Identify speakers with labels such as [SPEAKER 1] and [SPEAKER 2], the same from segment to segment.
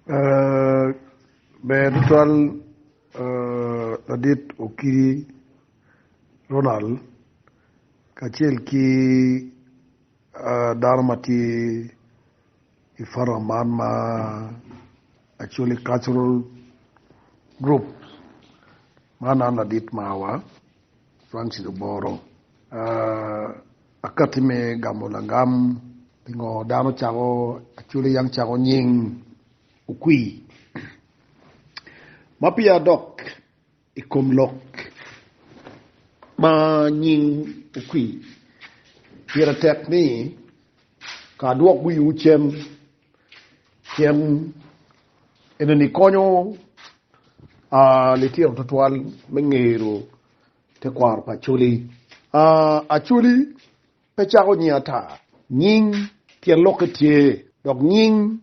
[SPEAKER 1] Ber tutwal Ladit Okidi Ronald kacel ki dano ma tye i foram man ma Acholi Cultural Group man an ladit marwa Francis Oboro. Akati me gamo lagam Pingo dano cako acwali yang cako nying okwi ma peya dok i kom lok ma nying okwi? Pire tek ni ka dwok wiwu cen cen enini konyo litino twatwal me ngero Tekwaro pa Acholi, Acholi pe cako nying ata. Nying tyen lokke tye, dok nying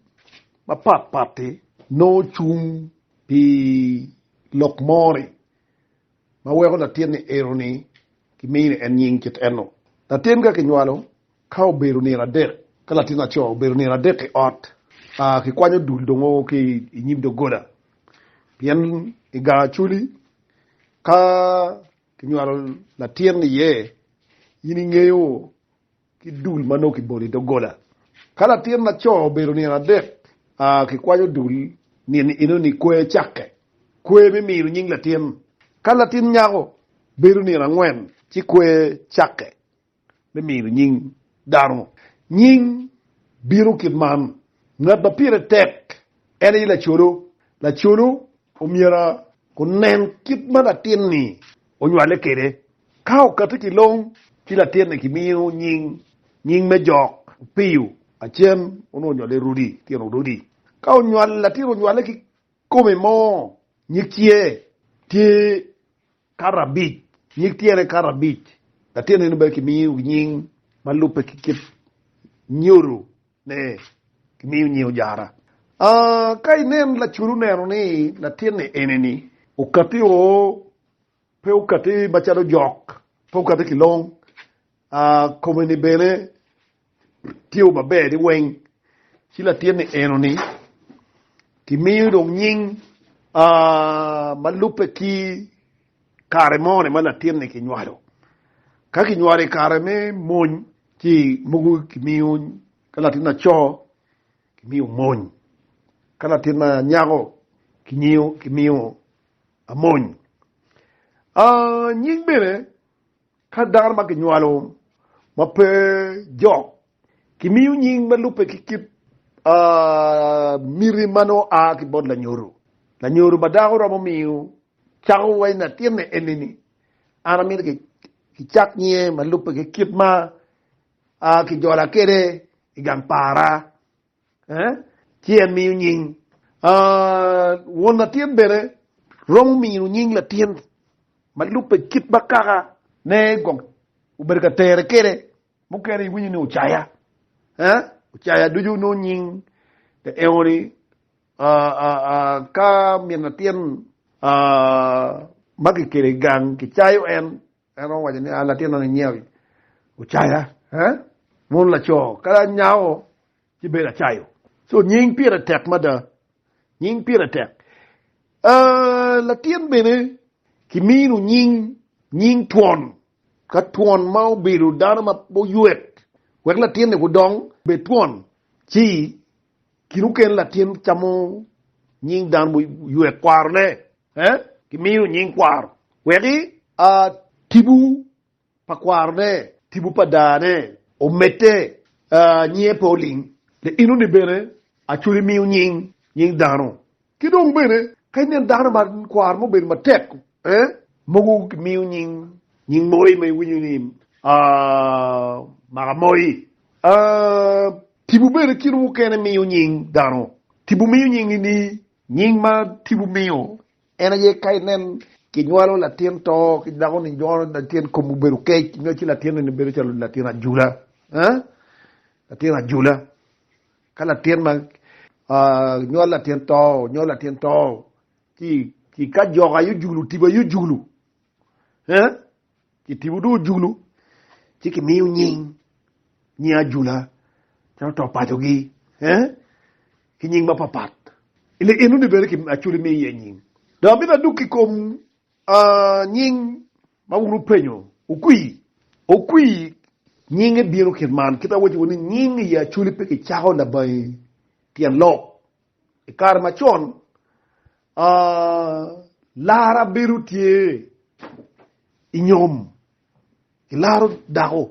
[SPEAKER 1] mapat pat-ti nongo cung pi lok mo-ni ma weko latin ni ero-ni kimini en nying kit eno. Latin ka kinywalo, ka obedo nino adek, ka latin laco obedo nino adek i ot, kikwanyo dul dongo ki i nyim doggola, pien i gang Acholi, Ka kinywalo latin iye, in ingeyo ki dul ma nongo kibolo i doggola. Ka latin laco obedo nino adek, kikwanyo dul nino enoni kwer cakke. Kwer me mino nying latin. Ka latin nyako bedo nino angwen, ci kwer cakke. me mino nying dano nying bino kit man, Ngat ma pire tek en aye lacolo. Lacolo omyero onen kit ma latin-ni onywale kwede. Ka okati ki long, ci latin-ni kimiyo nying nying me jok, opiyo, acen, onongo onywale Rudi, tino Rudi. Ka latin onywale ki kome mo, nyig ciye tye Karabic, nyig tyene karabic, latin eno bene kimiyo nying ma lubbe ki kit nyodo ne kimiyo nying ojara. Aa, ka inen lacudu neno ni latinni enini okati o, pe okati macalo jok, pe okati ki long, aa, kome-ni bene. Tye wa maber ni weng ci latin ni eno ni ki miyo dong nying ma lubbe ki kare mo ni ma latin ni ki nywalo. Ka ki nywalo i kare me mony ci mogo ki miyo ka latin laco ki miyo mony ka latin ma nyako ki nyiyo ki miyo amony. Nying bene Ka dano ma kinywalo ma pe jok kimiyo nying ma lubbe ki kit miti ma nongo a ki bot lanyodo. Lanyodo ma dako romo miyo cako waci latinne eni-ni, an amito kicak nyinge ma lubbe ki kit ma ajola kwede i gang para. ci en miyo nying. Won latin bene romo mino nying latin ma lubbe kit ma kaka ne gong obedo ka tere kede. Mukene iwinyo ni ocaya, ocaya ducu nongo nying te eoni ka min latin ma kikelo i gang kicayo en. En owaco ni, A latin man inyeo ocaya, eh? Mon laco, kadi anyako ci bedo acayo. So nying pire tek mada. Nying pire tek. Uh, latin bene kimino nying, nying twon. Ka twon ma obedo dano ma oyuet, wek latin-ni kudong bed twon, ci Kine mukene latin camo nying dano mo ywe kwaro ne eh kimiyo nying kwaro weki a tibu pa kwaro ne tibu pa daa ne omedte ah nyinge pe oling le ino ni bene acholi miyo nying nying dano Ki dong bene, ka inen dano ma kwaro mo obedo matek, eh? Mogo gimiyo nying, nying moi ma iwinyo ni, ah, maka moi. Ah, tipo bene kit mukene miyo nying dano. Tipo miyo nying i ni. Nying ma tipo miyo en aye ka inen kinywalo latin to ki dako ni nywalo latin kom obedo kec, nyo ci latin-ni ni bedo calo latin ajula, eh? Latin ajula. Ka latin ma nywal latin to, nywal latin to, ki ka joko aye ojulu, tipo aye ojulu, ki tipo dong ojulu, ci kimiyo nying, nying ajula, calo to pacogi, ki nying mapapat. Ile eno ni bene aculi miyo iye nying. Dong amito aduk i kom Nying ma wun wupenyo, Okwii, okwii, nyinge bino kit man. Kit ma awacciwu ni, nying i Acoli pe kicako labangi tyen lok. I kare macon, lara bedo tye i nyom, ilaro dako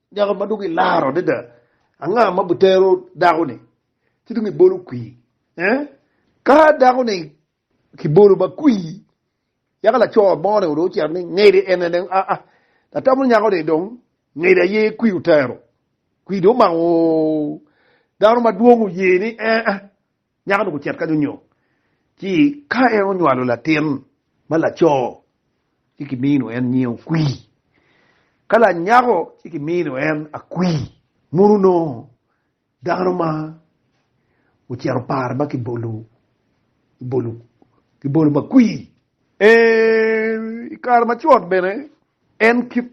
[SPEAKER 1] Nyako ma dong ilaro adada, anga ma obitero dako-ni? Ci dong ibolo kwir. Eh? Ka dako-ni kibolo ma kwir, yaka laco mo-ni dong ocito ni ngede ene dong aa. Atamo nyako-ni dong ngede aye kwir otero. Kwir dong omako dano madwong oye ni ea. Nyako-nu ocito kany onyo, ci ka en onywalo latin ma laco, ci kimino en nying okwi. Ka lanyako, ci kimino en akwi. Mono onongo dano ma ocito par ma kibolo kibolo kibolo makwi. I kare macon bene, en kit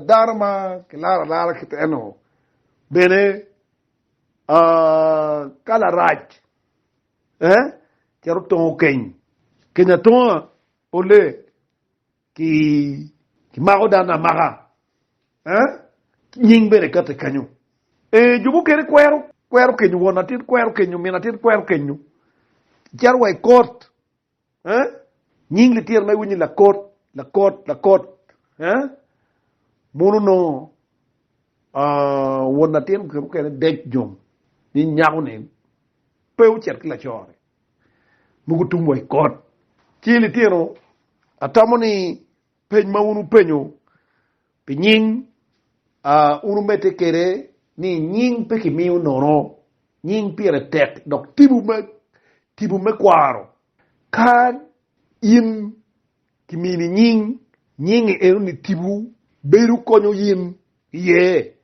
[SPEAKER 1] dano ma kilaro alara kit eno bene Ka larac cito tongo keny, keny atonga ole kimako dano amaka, nying bene kati kenyo. Ee jo mukene kwero kenyo won atit, kwero kenyo min atit, kwero kenyo cito wa i kot Eh? Nying litino ma iwinyo ni Lakot, Lakot, Lakot. Eh? Mono nongo ah, won latin kit mukene dec jong ni nyako-ni pe ocit ki lacone mogo tum wa i kot. Ci litino, atamo ni Peny ma wun wupenyo pi nying, wun wumedde kwede ni, 'Nying pe kimiyo nono. Nying pire tek, dok tipo me kwaro. Ka in kimini nying, nyingi enoni tipo bedo konyo in iye.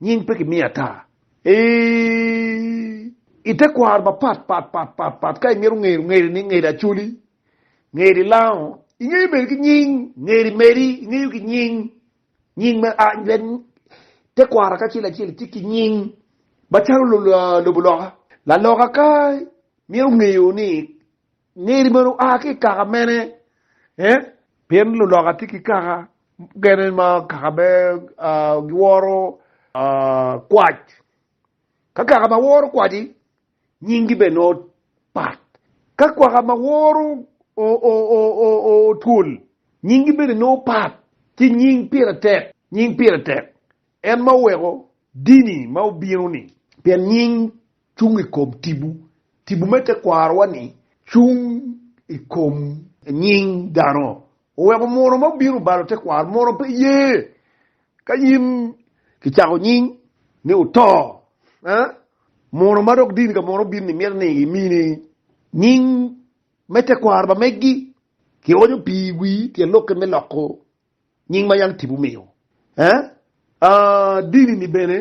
[SPEAKER 1] Nying pe kimiyo ata. I te kwaro mapatpat, ka imito ngedo, ngedi ni, Ngeda Acholi. Ngeri lango ingeyo bene ki nying, ngeri meri ingeyo ki nying, nying me a tekwaro akacel acel tye ki nying macalo lobo loka. Laloka ka mito ngeyo ni ngeri meno oa ki i kaka mene, pien luloka tye ki kaka mukene ma kaka me giworo kwac, ka kaka ma woro kwaci Nyinggi bene nongo pat. Ka kwaka ma woro otwol, nyinggi bene nongo pat ki nying pire tek, nying pire tek en ma oweko dini ma obino-ni. Pien nying cung i kom tipo, tipo me tekwaro-wa-ni cung i kom nying dano. Oweko munu ma obino balo tekwaro munu pe ye Ka in kicako nying ni wuto, mono ma dok dini ka mono obin-ni mito ni gimini nying me tekwaro pa megi. Kionyo pi iwi tyen lokke me loko nying ma yam tipo omiyo. Dini-ni bene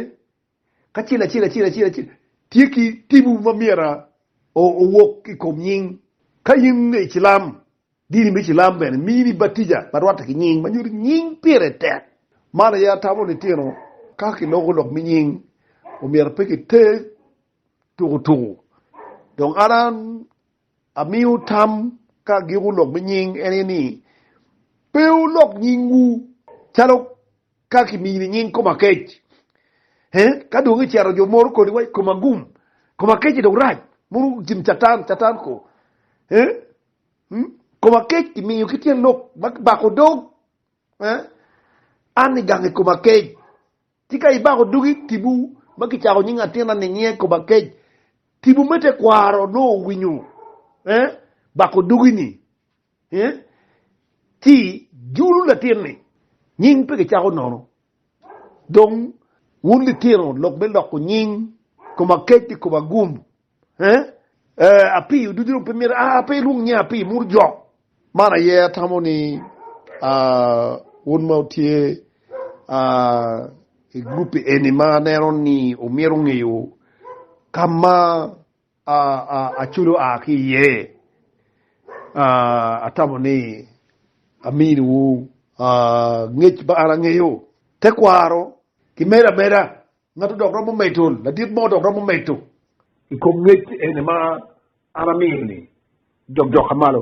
[SPEAKER 1] kacel acel acel acel acel tye ki tibu ma myero owok ki i kom nying. Ka in i cilam, dini me cilam bene mini batija ma rwatte ki nying ma nyuto nying pire tek. Man aye atamo litino ka kiloko lok me nying omyero pe kiter tuku tuku dong an an. Amiyo tam ka agiko lok me nying en aye ni, Pe wulok nyingwu calo ka kimini i nying koma kec. Ka dong icito jo moro koni wa koma gum, koma kec-ci dong rac, mono gin Catan, Catan ko. Koma kec kimiyo ki tyen lok ma kibako dog, an ni gang i koma kec. Tika ibako dugi i tipo ma kicako nying atinna ninie i kom akec? Tipo me tekwaro onongo owinyo eh bako dugi ni eh ci julu latin ni nying pe kicako nono. Dong wun litino lok me loko nying kom akec ni kom agum. Eh, eh, api oduc dong pe myero ah, pe irung nye api mur jok. Man aye atamo ni ah, un ma utye ah, i group eni ma aneno ni omyero ongeyo ka ma ah, ah, Acolo a ki iye. Ah, atamo ni aminiwu ah, ngec ma an angeyo. Tekwaro, kimed ameda. Ngatu dok romo medo, ladit mo dok romo medo. I kom ngec eni ma an amiyo-ni, jokjoka malo.